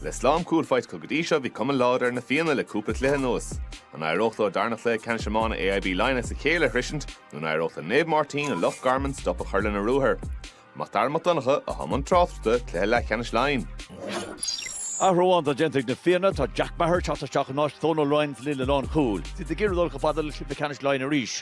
Le slám cúl faighte acu go dtí seo, bhí cuma láidir ar na Fianna le cúpla cluiche anuas. An éireodh leo dara cluiche ceannais iomána AIB Laighean as a chéile a shroisint nó an éireodh le Naomh Máirtín i Loch Garman stop a chur lena ruathar? Mac Dara Mac Donncha, a bhí i mbun tráchta, Cluiche Leathcheannais Laighean. Athrú amháin atá déanta ag na Fianna, tá Jack Maher ag teacht isteach in áit Dhónail Ryan sa líne lánchúil. Siad ag iarraidh dul chomh fada le cluiche ceannais Laighean arís.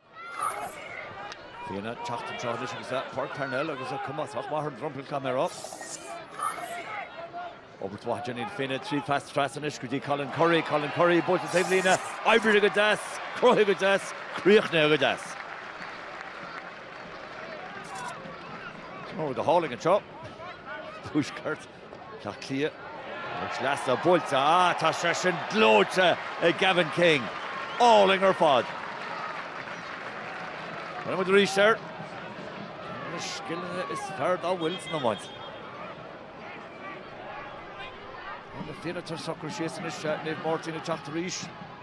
Fianna teacht anseo anois agus i bPáirc Parnell agus a cumas ach Maher i nDroim Conrach. Obair mhaith déanta ag na Fianna tríd pas trasna anois go dtí Colin Currie, Colin Currie buailte taobh líne, oibrigh go deas, cruthaigh go deas, críochnaigh go deas. Scór go hálainn anseo. Tuaisceart. Átha Cliath, poc sleasa buailte, ah tá seisean gleoite ag Gavin King, álainn ar fad. Breathnóidh muid arís air. Ar na scilithe is fearr dá bhfuil san iomáint. Tá na Fianna tar éis socrú síos anois Naomh Máirtín ag teacht arís.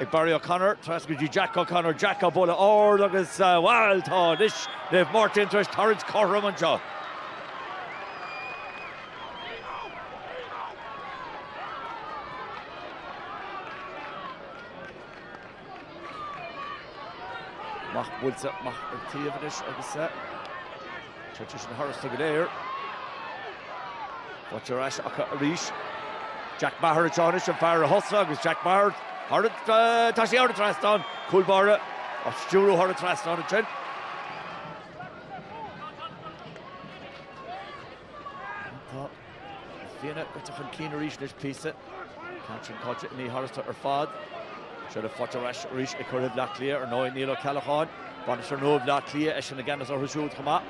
Ag Barry O'Connor, trasna go dtí Jack O'Connor, Jack a' bualadh ard agus bhail tá anois Naomh Máirtín tar eis tarraingt cothrom anseo. Amach buailte amach ar taobh anois agus. Téitear sin tharstu go léir. Faighte ar ais acu arís. Jack Maher anseo anois, an fear a thosaigh agus Jack Maher thar an, tá sé thar an trasnán, cúl báire á stiúradh thar an trasnán ansin. Tá Na Fianna curtha chun cinn arís le píosa. An ceann sin caite ní héasca ar fad. Seo le faighte ar ais arís ag curaidh Bhleá Cliath. Ar ndóigh Niall Ó Ceallacháin, bainisteoir nua Bhleá Cliath, eisean i gceannas orthu siúd chomh maith.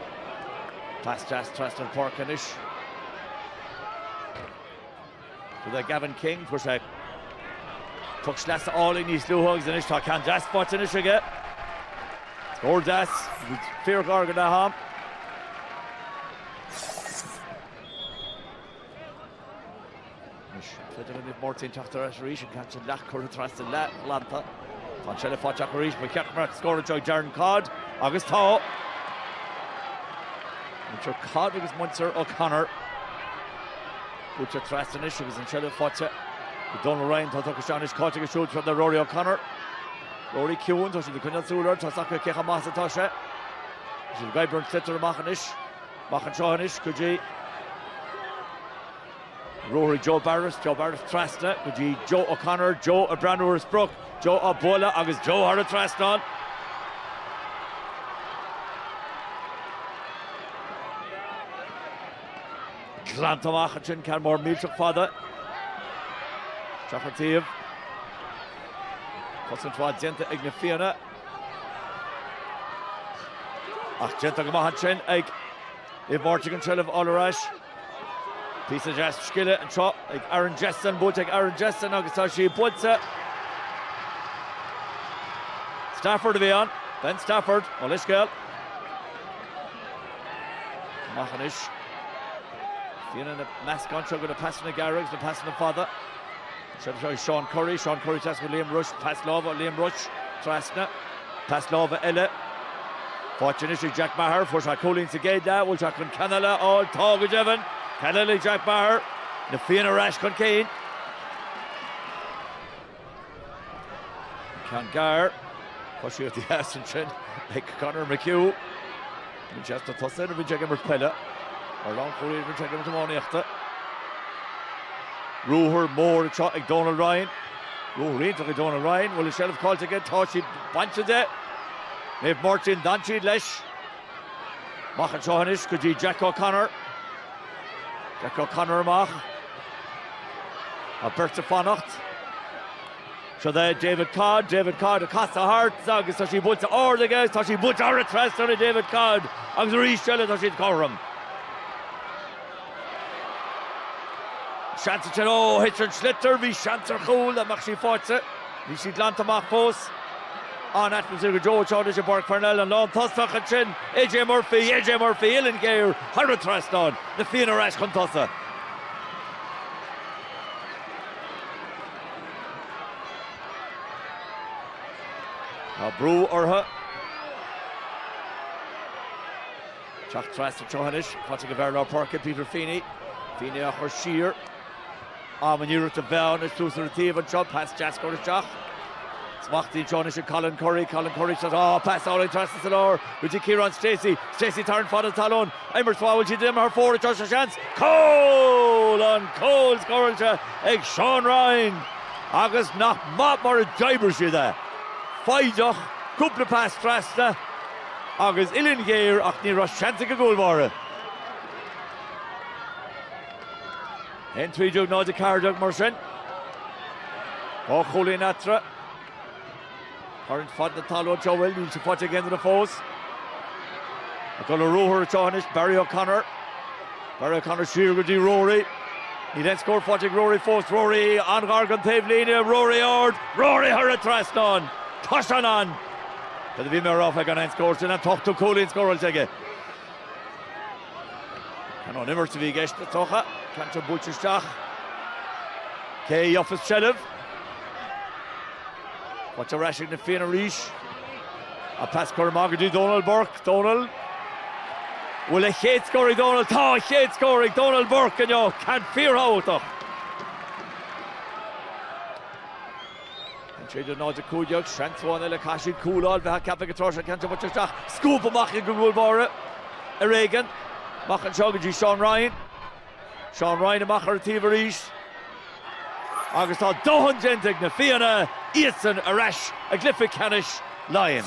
Pas deas trasna an pháirce anois. Go dtí Gavin King, fuair sé Puc sleasa álainn níos luaithe agus anois tá ceann deas faighte anois aige. Scór deas, fíorghar go leatham. Anois, Naomh Máirtín ag teacht ar ais arís, an ceann sin leath curtha trasna, leath glanta. Tá an seilbh faighte acu arís, ba cheart go mbeadh scór anseo ag Darren Codd, agus tá! Muintir Codd agus muintir O'Connor. Cuirtear trasna anois agus an seilbh faighte ag Donal Ryan, tá tugtha isteach anois caite agus siúd trasna le Rory O'Connor. Rory ciúin, tá siad ag coinneáil súil air, tá a fhios acu cé chomh maith is atá sé. Is iad ag Byrne, sliotar amach anois. Amach anseo anois go dtí Rory, Joe Barrett. Joe Barrett trasna go dtí Joe O'Connor. Joe ag breathnú ar an sprioc. Joe á bualadh agus Joe thar an trasnán. Glanta amach ansin ceann mór millteach fada. Isteach an taobh. Cosaint mhaith déanta ag na Fianna. Ach déanta go maith ansin ag Naomh Máirtín an tseilbh a fháil ar ais. Píosa deas scile anseo ag Aaron Jesson, buailte ag Aaron Jesson agus tá sí buailte. Stafford a bhí ann, Ben Stafford ó leithscéal. Amach anois. Fianna na meascán seo go na pasanna gearra agus na pasanna fada. Siod é Seán Currie, Seán Currie trasna go Liam Rushe, pas láimhe, Liam Rushe trasna, pas láimhe eile. Faighte anois ag Jack Meagher, fuair sé cúilín sa gcéad leath, bhfuil sé chun ceann eile a fháil, tá go deimhin! Ceann eile ag Jack Meagher, Na Fianna ar ais chun cinn. Ceann gearr, coisíocht dheas ansin ag Conor McHugh. Bíonn sé sna tosaithe nuair a bhíonn sé ag imirt peile. Mar lánchúlaí nuair a bhíonn sé ag imirt iománaíochta. Ruathar mór anseo ag Donal Ryan. Ruathar iontach ag Donal Ryan. Bhfuil an tseilbh caillte aige. Tá sí bainte de. Naomh Máirtín, d'fhan siad leis. Amach anseo anois go dtí Jack O'Connor. Jack O'Connor amach. Tá beirt ag fanacht. Siod é David Codd, David Codd ag casadh thart agus tá sí buailte ard aige agus tá sí buailte thar an trasnán ag David Codd agus arís eile tá siad cothrom. Seans ansin ó thit an sliotar, bhí seans ar chúl dá mbeadh sí faighte. Bhí sí glanta amach fós. An atmaisféar go deo anseo anois i bPáirc Pharnell, an lántosach ansin, AJ Murphy, AJ Murphy, uillinn ghéar thar an trasnán, na Fianna ar ais chun tosaigh. Tá brú orthu teacht trasna seo anois. Faighte ag an bhfear lár páirce, Peter Feeney. Feeney á chur siar. Am an iarracht a bheadh anois suas ar an taobh anseo. Pas deas curtha isteach. Smachtaithe anseo anois ag Colin Currie. Colin Currie shot. Á, pas álainn trasna sa lár go dtí Ciarán Stacey. Stacey tar an fad an talún. Imirt mhaith an bhfuil siad imithe thar fóir anseo tá seans. Cúl! An cúl scóráilte ag Seán Ryan. Agus nach maith mar a d'oibrigh siad é. Foighdeach, cúpla pas trasna agus uillinn ghéar ach ní raibh seans ag an gcúl báire. Aon trí déag, náid a ceathair déag mar sin. Dhá chúilín eatarthu. Tarraingt fada ná tá leo, seo a bhfuil, níl sé faighte ag aon duine fós. Ag dul ar ruathar anseo anois Barry O'Connor. Barry O'Connor siar go dtí Rory. Níl aon scór faighte ag Rory fós, Rory an-ghar don taobhlíne, Rory ard, Rory thar an trasnán! Tá sé ann! Cad a bhí mé a rá faoi gan aon scór? Sin an t-ochtú cúilín scóráilte aige. Ón imirt a bhí i gceist an ceann sin? Ceann tábhachtach buailte isteach. Cé a gheobhas seilbh? Faighte ar ais ag na Fianna arís. An pas curtha amach go dtí Dónal Burke. Dónal. Bhfuil a chéad scór ag Dónal? Tá a chéad scór ag Dónal Burke inniu. Ceann fíorthábhachtach. An tríú nóiméad caogad, Seans ann le go raibh siad cúláil bheith ceaptha go tráthrialta Ceann buailte isteach, scúp amach ag an gcúl báire ar éigean, amach anseo go dtí Seán Ryan, Seán Ryan amach ar an taobh arís agus tá dóthain déanta ag Na Fianna, iadsan ar ais i gcluiche ceannais Laighean.